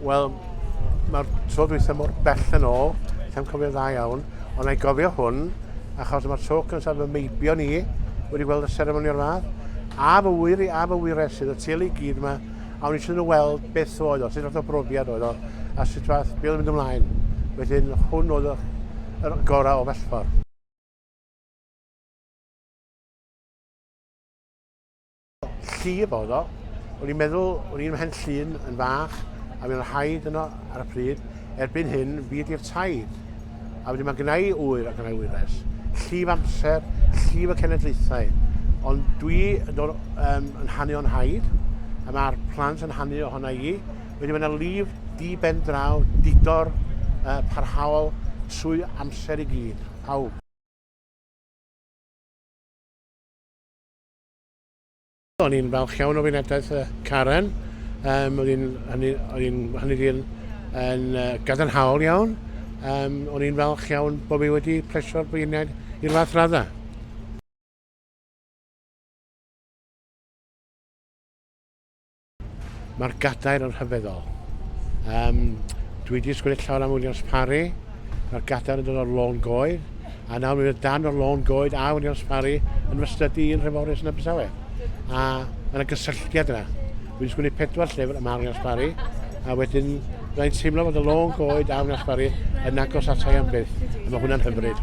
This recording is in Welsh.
Wel, mae'r tro dwythau mor bell yn ôl, lla'n cofio dda iawn, ond na'i gofio hwn, achos mae'r tro cyntaf fy meibio ni wedi gweld y seremoni o'r fath, a fy wyr i a fy wyres sydd y teulu gyd yma a o'n eisiau nhw weld beth oedd o, sut fath o brofiad oedd o, a sut fath, beth oedd mynd ymlaen. Wedyn, hwn oedd y gorau o fellfor. Llif oedd o. O'n i'n meddwl, o'n i'n mhen llun yn fach, a mi'n rhaid yno ar y pryd, erbyn hyn, fi ydy'r taid. A wedyn mae gennau ŵyr a gennau wyres, llif amser, llif y cenedlaethau. Ond dwi yn dod um, yn hannu o'n haid, a mae'r plant yn hannu ohona i. Wedyn mae yna llif di ben draw, didor, uh, parhaol, trwy amser i gyd, pawb. O'n i'n falch iawn o wynadaeth uh, Karen. Um, oedd hi'n hynny yn, yn uh, gadarnhaol iawn. Um, o'n i'n falch iawn bod fi wedi plesio'r beirniaid i'r fath raddau. Mae'r gadair yn rhyfeddol. Um, dwi wedi sgwrdd llawer am Williams Parry. Mae'r gadair yn dod o'r lôn goed. a nawr mi fydd dan o'r lôn goed a wedi nosparu yn fy stydi i'n Nhreforys yn Abertawe. A mae yna gysylltiad yna. Fi'n sgwini pedwar llyfr y mae wedi nosparu, a wedyn rwy'n teimlo fod y lôn goed a wedi nosparu yn agos atai am byth, a mae hwnna'n hyfryd.